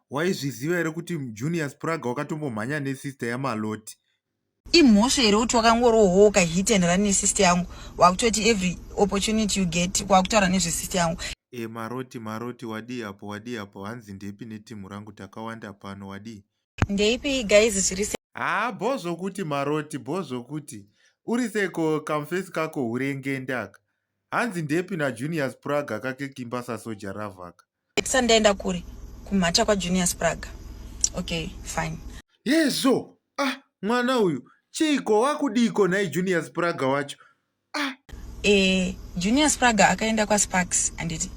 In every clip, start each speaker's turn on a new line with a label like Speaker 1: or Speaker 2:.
Speaker 1: Waizviziva here kuti Junior Spraga wakatombomhanya nesister yaMaloti? Imhosva
Speaker 2: here kuti wakangorohoka hit and run nesister yangu wakutoti every opportunity you get wakutaura nezvesister yangu? E, Maroti, Maroti,
Speaker 1: wadii apo, wadii apo, hanzi ndepi netimhu rangu takawanda pano, wadii? Ndeipi guys
Speaker 2: zviri se. Haa, bho zvokuti
Speaker 1: Maroti, bho zvokuti. Uri seko kamfesi kako hurengende aka. Hanzi ndepi naJunior Spraga kake kimba sasoja ravaka. Sir ndaenda kuri
Speaker 2: kumhata kwa Junior Spraga. Okay, fine. Hezvo.
Speaker 1: Ah, mwana uyu chiiko wakudiko nhai Junior Spraga wacho? Ah. Eh,
Speaker 2: Junior Spraga akaenda kwa Sparks anditi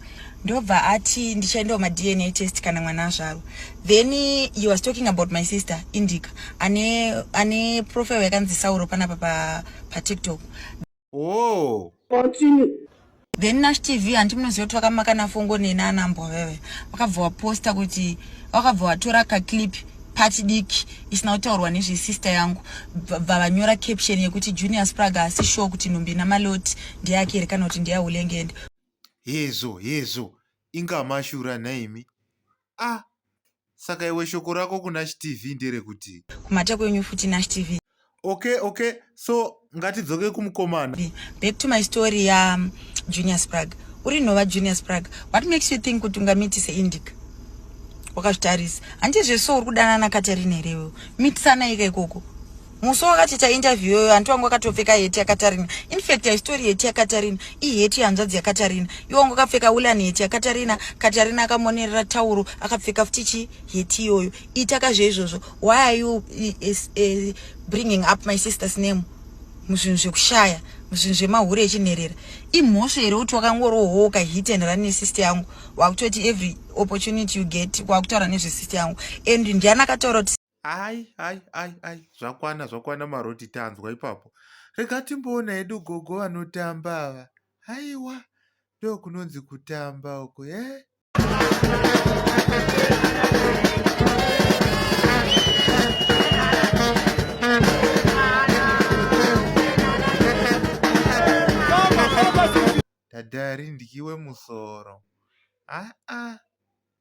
Speaker 2: ndobva ati ndichaendawo madna test kana mwana azvarwa then he was talking about my sister indica ane ane profile yakanzi sauro panapa pa, pa tiktok oh.
Speaker 1: then nash
Speaker 2: tv hanti munoziva kuti vakamaka nafongo neni anambwa veve vakabva waposta kuti vakabva watora kaclip pati diki isina kutaurwa nezvesister yangu vavanyora caption yekuti junior sprag asi show kuti nhumbi namaloti ndeyake here kana kuti ndeyahulengende hezvo
Speaker 1: hezvo inga mashura nhaimi ah saka iwe shoko rako kuna chtv nderekuti kumhata kwenyu futi
Speaker 2: nachtv okay okay
Speaker 1: so ngatidzoke kumukomana back to my
Speaker 2: story ya um, junior sprag uri nhova junior sprag what makes you think kuti ungamitise indica wakazvitarisa handizve so uri kudanana katarina here iwewo mitisanai ka ikoko musi wakatiita interview yoyo hanti wangu akatopfeka heti yakatarina infact haistory heti yakatarina iheti yehanzvadzi yakatarina iwe wangu akapfeka wulan heti yakatarina katarina akamonerera tauro akapfeka futi chi heti iyoyo itaka zveizvozvo why are you eh, bringing up my sister's name muzvinhu zvekushaya muzvinhu zvemahure echinherera imhosva here kuti wakangorohooka hit and run nesister yangu wakutoti every opportunity you get wakutaura nezvesister yangu and ndiani akataura kuti Ai ai ai ai zvakwana
Speaker 1: zvakwana maroti tanzwa ipapo. Rega timboona hedu gogo vanotamba ava. Haiwa ndokunonzi kutamba uko eh. Dadari ndikiwe musoro. Ah ah.